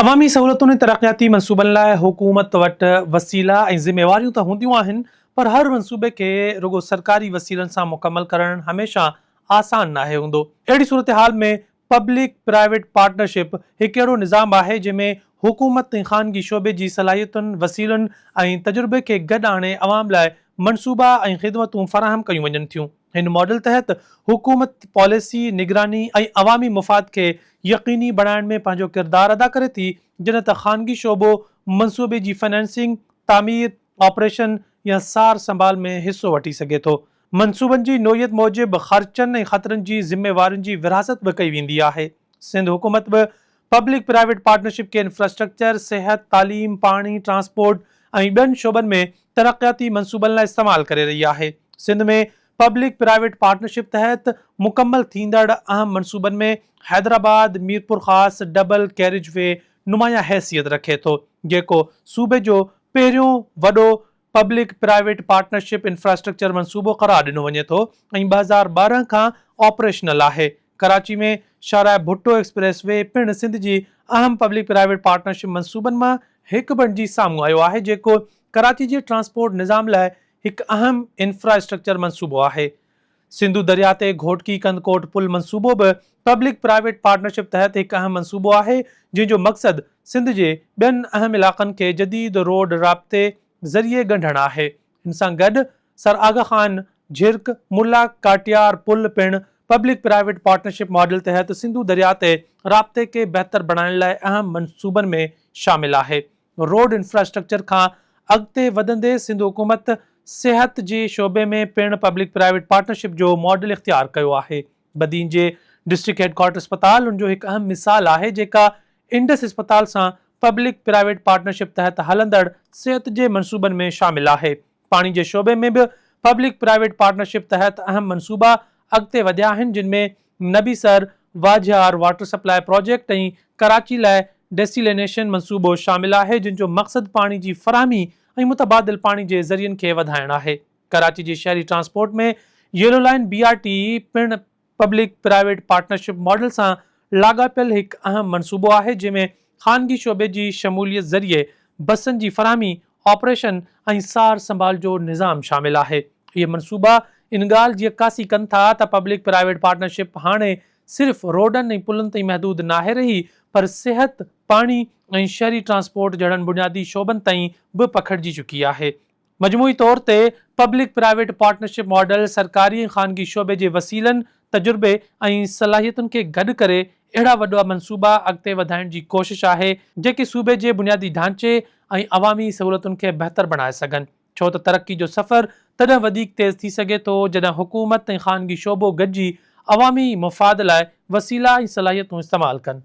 عوامي سهولتن ۽ ترقياتي منصوبن لاء حڪومت وٽ وسيلا ۽ ذميواريون ته هونديون آهن پر هر منصوبي کي رڳو سرڪاري وسيلن سان مڪمل ڪرڻ هميشه آسان ناهي هوندو. اهڙي صورتحال ۾ پبلڪ پرائيويٽ پارٽنرشپ هڪ اهڙو نظام آهي جنهن ۾ حڪومت ۽ خانگي شعبي جي صلاحيتن، وسيلن ۽ تجربي کي گڏ آڻي عوام لاء منصوبا ۽ خدمتون فراهم ڪيون وڃن ٿيون. هن ماڊل تحت حڪومت پاليسي، نگراني ۽ عوامي مفاد کي يقيني بڻائڻ ۾ پنهنجو ڪردار ادا ڪري ٿي، جڏهن ته خانگي شعبو منصوبي جي فنانسنگ، تعمير، آپريشن يا سار سنڀال ۾ حصو وٺي سگهي ٿو. منصوبن جي نوعيت موجب خرچن ۽ خطرن جي ذميوارين جي ورهاست به ڪئي ويندي آهي. سنڌ حڪومت به پبلڪ پرائيويٽ پارٽنرشپ کي انفراسٽرڪچر، صحت، تعليم، پاڻي، ٽرانسپورٽ ۽ ٻين شعبن ۾ ترقياتي منصوبن لاء استعمال ڪري رهي آهي. سنڌ ۾ پبلڪ پرائيويٽ پارٽنرشپ تحت مڪمل ٿيندڙ اهم منصوبن ۾ Hyderabad, Mirpurkhas double carriageway نمايان حيثيت رکي ٿو، جيڪو صوبي جو پهريون وڏو پبلڪ پرائيويٽ پارٽنرشپ انفراسٽرڪچر منصوبو قرار ڏنو وڃي ٿو ۽ ٻه هزار ٻارهن کان آپريشنل آهي. ڪراچي ۾ شاهراهه ڀٽو ايڪسپريس وي پڻ سنڌ جي اهم پبلڪ پرائيويٽ پارٽنرشپ منصوبن مان هڪ بڻجي سامهون آيو آهي جيڪو ڪراچي جي ٽرانسپورٽ نظام لاء هڪ اهم انفراسٽرڪچر منصوبو آهي. سنڌو درياهه تي گهوٽڪي ڪنڌڪوٽ پل منصوبو به پبلڪ پرائيويٽ پارٽنرشپ تحت هڪ اهم منصوبو آهي جنهن جو مقصد سنڌ جي ٻين اهم علاقن کي جديد روڊ رابطي ذريعي ڳنڍڻ آهي ان سان گڏ سر آغا خان جھرڪ ملا ڪاٽيار پل پڻ پبلڪ پرائيويٽ پارٽنرشپ ماڊل تحت سنڌو درياء تي رابطي کي بهتر بڻائڻ لاء اهم منصوبن ۾ شامل آهي. روڊ انفراسٽرڪچر کان اڳتي وڌندي سنڌ حڪومت صحت جي شعبي ۾ پڻ پبلڪ پرائيويٽ پارٽنرشپ جو ماڊل اختيار ڪيو آهي. بدين جي ڊسٽرڪٽ هيڊ ڪوارٽر اسپتال ان جو هڪ اهم مثال آهي جيڪا انڊس اسپتال سان پبلڪ پرائيويٽ پارٽنرشپ تحت هلندڙ صحت جي منصوبن ۾ شامل آهي. پاڻي جي شعبي ۾ به پبلڪ پرائيويٽ پارٽنرشپ تحت اهم منصوبا اڳتي وڌيا آهن جن ۾ Nabisar Vajhar water supply project ۽ Karachi لاء ڊيسيلينيشن منصوبو شامل آهي جن جو مقصد پاڻي جي فراهمي ۽ متبادل پاڻي جي ذريعن کي وڌائڻ آهي. ڪراچي جي شهري transport ۾ yellow line B R T پڻ پبلڪ پرائيويٽ پارٽنرشپ ماڊل سان لاڳاپيل هڪ اهم منصوبو آهي جنهن ۾ خانگي شعبي جي شموليت ذريعي بسن جي فراهمي، آپريشن ۽ سار سنڀال جو نظام شامل آهي. اهي منصوبا ان ڳالهه جي عڪاسي ڪن ٿا ته پبلڪ پرائيويٽ پارٽنرشپ هاڻي صرف روڊن ۽ پلن تائين محدود ناهي رهي پر صحت، پاڻي ۽ شهري ٽرانسپورٽ جهڙن بنيادي شعبن تائين به پکڙجي چڪي آهي. مجموعي طور تي پبلڪ پرائيويٽ پارٽنرشپ ماڊل سرڪاري ۽ خانگي شعبي جي وسيلن، تجربي ۽ صلاحيتن کي گڏ ڪري اهڙا وڏا منصوبا اڳتي وڌائڻ جي ڪوشش آهي، جيڪي صوبي جي بنيادي ڍانچي ۽ عوامي سهولتن کي بهتر بڻائي سگهن، ڇو ته ترقي جو سفر تڏهن وڌيڪ تيز ٿي سگهي ٿو، جڏهن حڪومت ۽ خانگي شعبو گڏجي عوامي مفاد لاء وسيلا ۽ صلاحيتون استعمال ڪن.